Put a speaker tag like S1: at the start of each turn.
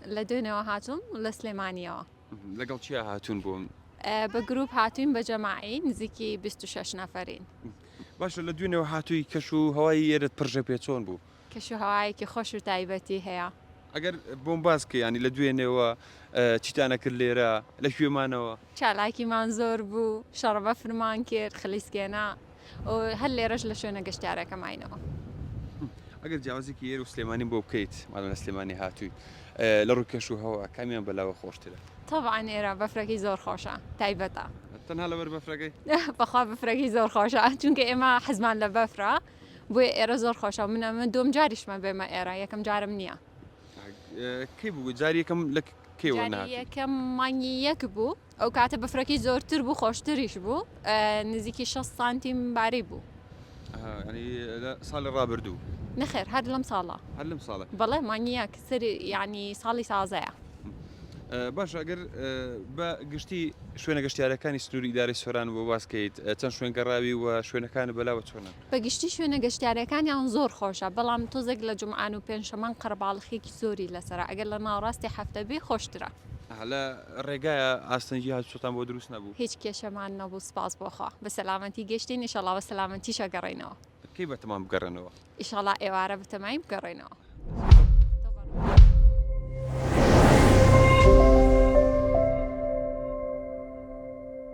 S1: لە دوێنێوە هاتووم لە سلێمانیەوە. لەگەڵ کێ
S2: هاتوون بۆ؟ بە گروپ
S1: هاتووین بە جەماعی نزیکی بیست و شەش نەفەرین. باشە لە
S2: دوێنێوە هاتووی کەش و هەوای ئێرەت پڕژە پێ چۆن بوو؟ کەش و هەوایەکی
S1: خۆش و تایبەتی هەیە. ئەگەر بۆم
S2: باس کەی یانی لە دوێنێوە چیتان ئەکرد لێرە؟ لە کوێ مانەوە؟ چالاکیمان زۆر
S1: بوو، شەڕە بەفرمان کرد، خلیسکێنە. و هەر لێرەش لە شوێنە گەشتیارەکە ماینەوە.
S2: ئەگەر جیاوازیکی ئێرە و سلێمانی بۆ بکەیت مادەم لە سلێمانی هاتووی لە ڕووی کەش و هەوا کامیان بەلاوە خۆشترە؟ تەبعەن ئێرە
S1: بەفرەکەی زۆر خۆشە تایبەتە. تەنها لەبەر
S2: بەفرەکەی؟ بەخوا بەفرەکەی
S1: زۆر خۆشە چونکە ئێمە حەزمان لە بەفرە بۆیە ئێرە زۆر خۆشە من ئەمە دووەم جاریشمە بێمە ئێرە یەکەم جارم نییە.
S2: کەی بوو جاری یەکەم لە کەی وەرناهاتووی؟ جاری یەکەم
S1: مانگی یەک بوو. ئەو کاتە بەفرەکەی زۆرتر بوو خۆشتریش بوو نزیکی 6 سانتیم باری بوو ساڵی
S2: ڕابردوو نەخێر هەر لەم
S1: ساڵە هەر لەم ساڵە بەڵێ
S2: مانیەک
S1: سەر ینی ساڵی سازەیە
S2: باش ئەگەر بە گشتی شوێنە گەشتارەکانی سنووری داری سۆران بۆ باسکەیت چەند شوێن گەڕاوی و شوێنەکانی بەلاوە چۆنە بەگشتی شوێنە
S1: گەشتارەکانیان زۆر خۆشە بەڵام تۆزێک لە جمعان و پێنجشەمان قەرباڵخێکی زۆری لەسرە ئەگەر لە ناوڕاستی هەفتەبی خۆشترە لە
S2: ڕێگایە ئاستەنگی هاتوچۆتان بۆ دروست نەبوو؟ هیچ کێشەمان نەبوو
S1: سوپاس بۆ خوا بە سەلامەتی گەشتین ئیشەڵا بە سەلامەتیش ئەگەڕێینەوە. کەی بەتەمان بگەڕێنەوە؟
S2: ئیشەڵا
S1: ئێوارە بەتەمای
S2: بگەڕێینەوە.